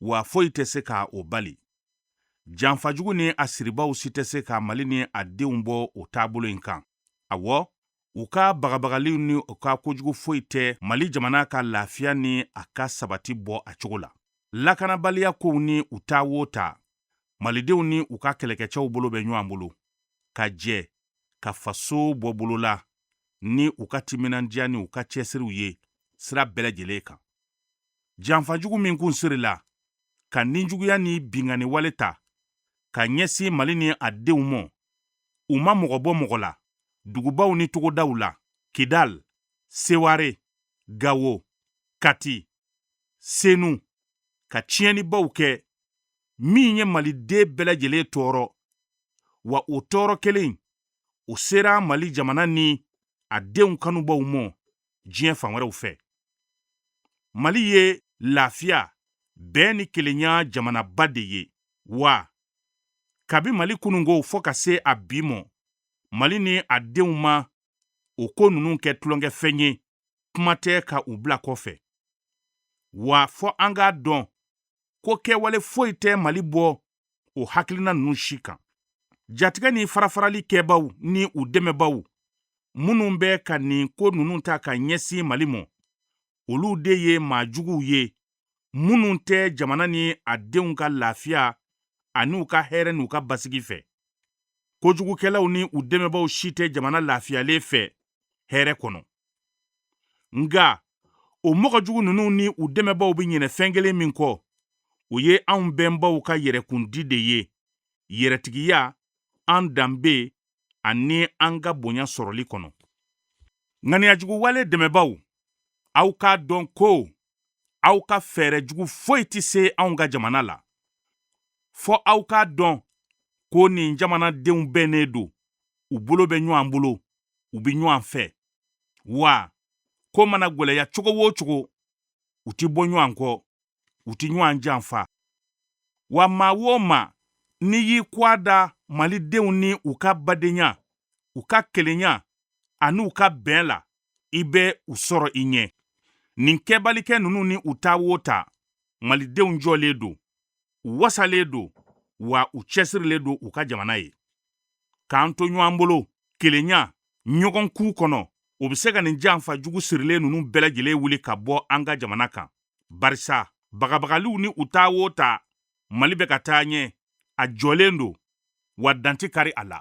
wa foyi tɛ se ka o bali janfajugu ni a siribaaw si tɛ se ka mali ni a denw bɔ o taabolo in kan awɔ u ka bagabagaliw ni u ka kojugu foyi tɛ mali jamana ka lafiya ni a ka sabati bɔ a cogo la lakanabaliya kow ni u ta wo ta malidenw ni u ka kɛlɛkɛcɛw bolo bɛ ɲɔgɔn bolo ka jɛ ka faso bɔ bolo la ni u ka timinandiya ni u ka cɛsiriw ye sira bɛɛ lajɛlen kan janfajugu min kun sirila ka ninjuguya ni binkanni wale ta ka ɲɛsin mali ni a denw mɔ u ma mɔgɔ bɔ mɔgɔ la dugubaw ni togodaw la kidal seware gawo kati senu ka tiɲɛnibaw kɛ min ye maliden bɛɛ lajɛlen tɔɔrɔ wa o tɔɔrɔ kelen o sera mali jamana ni a denw kanubaw mɔ diɲɛ fan wɛrɛw fɛ mali ye lafiya bɛn ni kelenya jamanaba de ye wa kabi mali kunun kow fɔ ka se a bi mɔ mali ni a denw ma o ko ninnu kɛ tulonkɛfɛn ye kuma tɛ ka u bila kɔfɛ wa fɔ an k'a dɔn ko kɛwale foyi tɛ mali bɔ o hakilina ninnu si kan jatigɛ ni farafarali kɛbaw ni u dɛmɛbaw minnu bɛ ka nin ko ninnu ta ka ɲɛsin mali mɔ olu de ye maa juguw ye minnu tɛ jamana ni a denw ka lafiya ani u ka hɛrɛ n'u ka basigi fɛ kojugukɛlaw ni u dɛmɛbaw si tɛ jamana lafiyalen fɛ hɛrɛ kɔnɔ nga o mɔgɔ jugu ninnu ni u dɛmɛbaw bɛ ɲinɛ fɛn kelen min kɔ o ye anw bɛnbaw ka yɛrɛkundi de ye yɛrɛtigiya an danbe ani an ka bonya sɔrɔli kɔnɔ ŋaniyajuguwale dɛmɛbaw aw k'a dɔn ko aw ka fɛɛrɛ jugu foyi tɛ se anw ka jamana la fɔ aw k'a dɔn ko nin jamanadenw bɛnnen don u bolo bɛ ɲɔgɔn bolo u bɛ ɲɔgɔn fɛ wa ko mana gwɛlɛya cogo o cogo u tɛ bɔ ɲɔgɔn kɔ u tɛ ɲɔgɔn janfa wa maa o maa n'i y'i kɔ da malidenw ni u ka badenya u ka kelenya ani u ka bɛn la i bɛ u sɔrɔ i ɲɛ nin kɛbalikɛ ninnu ni u ta wo ta malidenw jɔlen don u wasalen don wa u cɛsirilen don u ka jamana ye k'an to ɲɔgɔn bolo kelenya ɲɔgɔn kun kɔnɔ o bɛ se ka nin janfa jugu sirilen ninnu bɛɛ lajɛlen wuli ka bɔ an ka jamana kan barisa bagabagaliw ni u ta wo ta mali bɛ ka taa ɲɛ a jɔlen don wa dan ti kari a la